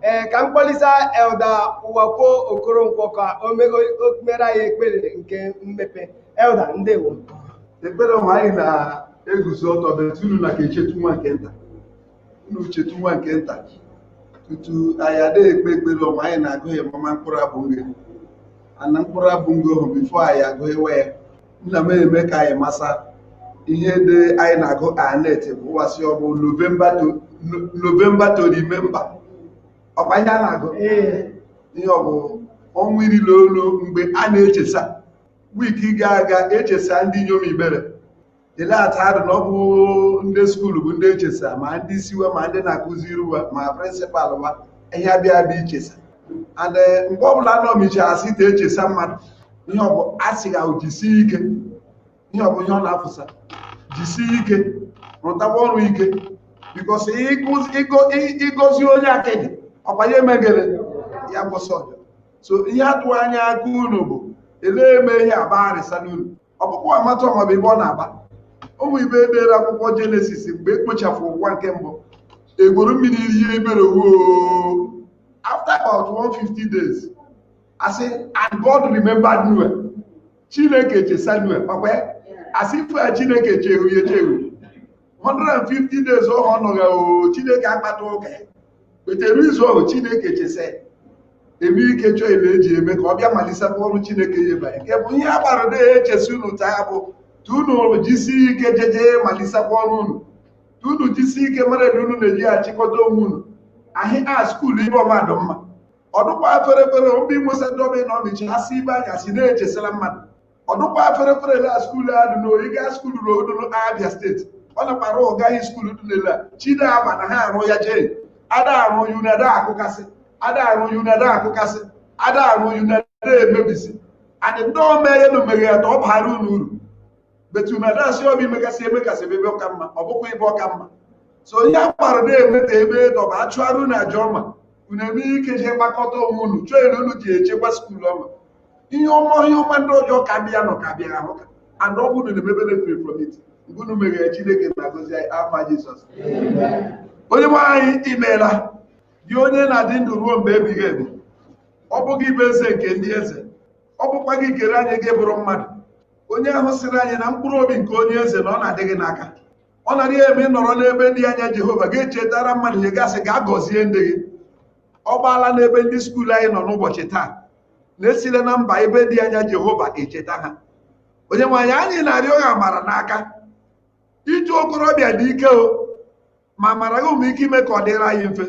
ee ka m kpọlisa elder ụwakwe okoronkwo ka o me- o- o mere anyị ekpere nke mmepe elder ndewo ekpere ọma anyị na-eguzo ọtọ but unu na ka echetụ nwa nke nta unu chetụ nwa nke nta tutu anyị adịghị ekpe ekpere ọma anyị na-agụ ya mama mkpụrụ abụ ngo ana mkpụrụ abụ ngo hụ before anyị agụghịwa ya nna m eme ka anyị masa ihe dị anyị na-agụ anet bụ ụwa sị ọ bụ november to remember ọkwa ihe a na-agụ ihe ọ bụ ọnwa iri na olu mgbe a na-echesa week gaa aga echesa ndị inyom ibere ele atadụ na ọ bụ ndị skuulu bụ ndị echesa ma ndị isi wa ma ndị na-akụziri ụwa ma principal wa ihe abịa abịa ichesa and eh, mgbe ọ bụla anọ michi asị te echesa mmadụ ihe ọbụ asị ga jisie ike ihe ọbụ ihe ọ na-afụsa jisie ike rụtakwa ọrụ ike because ị gọzi onye akịdị ọkwa ya emegere ya gwọsa ọzọ ihe atụ anya aka unu bụ elee eme ihe agba arịsa n'unu ọ bụkwa amata ọmabụ ebe ọ na-agba ọ bụ ibe edere akwụkwọ jenesis mgbe ekpochapụ ụwa nke mbụ egboro mmiri ihe ebere woo after about 150 days asị and God remembered Noah chineke chesa Noah kpakwa ya asị ife ya chineke echefu ya echefu 150 days ọ nọghị o chineke akpata ụka ya wetere izu ahụ chineke chesa eme ike chọọ ebe eji eme ka ọ bịa malisakwa ọrụ chineke ya ebanye nke bụ ihe a gbara de echesi unu taa bụ tu unu jisi ike jeje malisakwa ọrụ unu tu unu jisi ike mara na unu na-eji achịkọta onwe unu as a skuulu ibe ọ ma dụ mma ọ dụkwa fere fere obi nwesa dobe na ọmịchi asị ibe anya si na-echesara mmadụ ọ dụkwa fere fere la skuulu a dị n'oyi gaa skuulu rodoro abịa steeti ọ nakwara ụgaghị skuulu dị n'ele a chide ama na ha arụ ya jee ada arụ unu ada akụkasị ada arụ unu ada akụkasị ada arụ unu ada emebisi adị ndị omeghe na omeghe ya ta ọ bara unu uru but unu ada si obi megasị emegasị ebe ọka mma ọ bụkwa ebe ọka mma so onye agbara na-emeta ebe dọba achụara unu aja ọma unu eme ike jee gbakọta onwe unu chọọ elu unu ji echekwa skuulu ọma ihe ọma ihe ọma ndị ọzọ ka ndị ya nọ ka bịa ahụ ka and ọ bụrụ na emebe learn from it mgbe unu meghere chineke na-agọzi anyị afa jizọs onye nwe anyị ị meela gị onye na-adị ndụ ruo mgbe ebighị ebi ọ bụ gị bụ eze nke ndị eze ọ bụkwa gị kere anyị gị bụrụ mmadụ onye ahụ sịrị anyị na mkpụrụ obi nke onye eze na ọ na-adị gị n'aka ọ na-adịghị eme ị nọrọ n'ebe dị anya jehova ga-echetara mmadụ ihe gasị ga gọzie ndị gị ọ gbaala n'ebe ndị skuul anyị nọ n'ụbọchị taa na-esile na mba ebe dị anya jehova echeta ha onye nwe anyị anyị na-arịọ gị amara n'aka ịzụ okorobịa dị ike o ma mara gị ụmụ ike ime ka ọ dịrị anyị mfe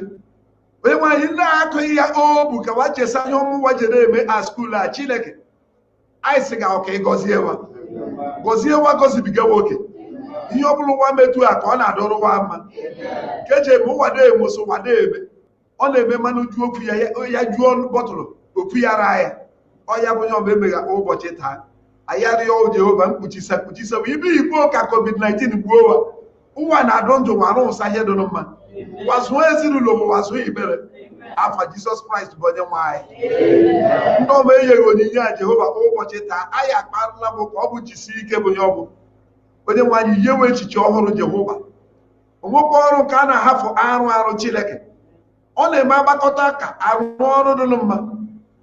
onye nwe anyị ndị akụghị ya ọ bụ ka wa chesa ihe ọma wa jere eme a skuul a chineke anyị sị ga ka ị gọzie wa gọzie wa gọzibiga wa oke ihe ọ bụla wa metụ aka ọ na-adụrụ wa mma nke eji eme ụwa na-eme so wa na-eme ọ na-eme mmanụ ju okwu ya ya juo bọtụlụ okwu ya ra ya ọ ya bụ onye ọbụla emegha ụbọchị taa anyị arịọ Jehova mkpuchisa kpuchisa ibe igbo ka covid-19 gbuo wa wa na-adụ ndụ wa arụsa ihe dụrụ mma wa zụọ ezinụlọ m wa zụọ igbere afa jizọs kraịst bụ onye nwe anyị ndị ọma enyere onyinye a jehova kwa ụbọchị taa anyị akparịla bụ ka ọ bụ jisi ike bụ ya ọ bụ onye nwe anyị yewe echiche ọhụrụ jehova o nwekwa ọrụ nke a na-ahafụ arụ arụ chineke ọ na-eme agbakọta ka arụ ọrụ dụrụ mma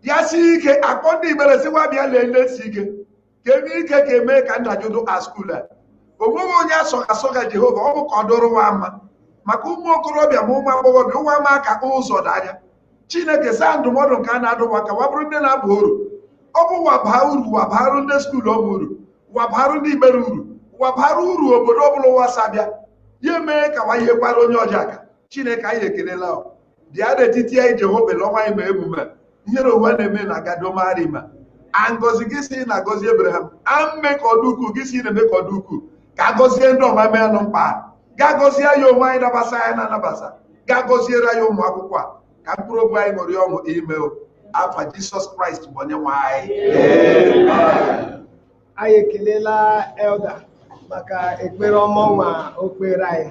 ya si ike akpọ ndị igbere sikwa bịa lelee si ike kedu ike ga-eme ka ndajụ dụ a skuul a onweghị onye asọga asọga jehova ọ bụ ka ọ dụrụ wa mma maka ụmụ okorobịa ma ụmụ agbọghọbịa wa ama ka ụzọ n'anya chineke saa ndụmọdụ nke a na-adụ wa ka wa bụrụ ndị na-aba uru ọ bụ wa baa uru wa barụ ndị skuulu ọma uru wa barụ ndị igbere uru wa barụ uru obodo ọbụla wa si abịa ya emee ka wa yekwara onye ọzọ aka chineke anyị ekelela bịa n'etiti anyị Jehova lọnwa anyị ma emume ihere ụwa na-eme na gadomarima ngọzi gị si na agọzi Abraham a mee ka ọ dụ ukwu gị si na-eme ka ọ dụ ukwu ka agọzie ndị ọma mee anụ mkpa ga agọzie ya onwe anyị nabasa anyị na anabasa ga agọziere anyị ụmụ akwụkwọ a ka mkpụrụ obi anyị ṅụrị ọṅụ ime afa Jisọs Kraịst bụ onye nwe anyị anyị ekelela elda maka ekpere ọma ọnwa o kpere anyị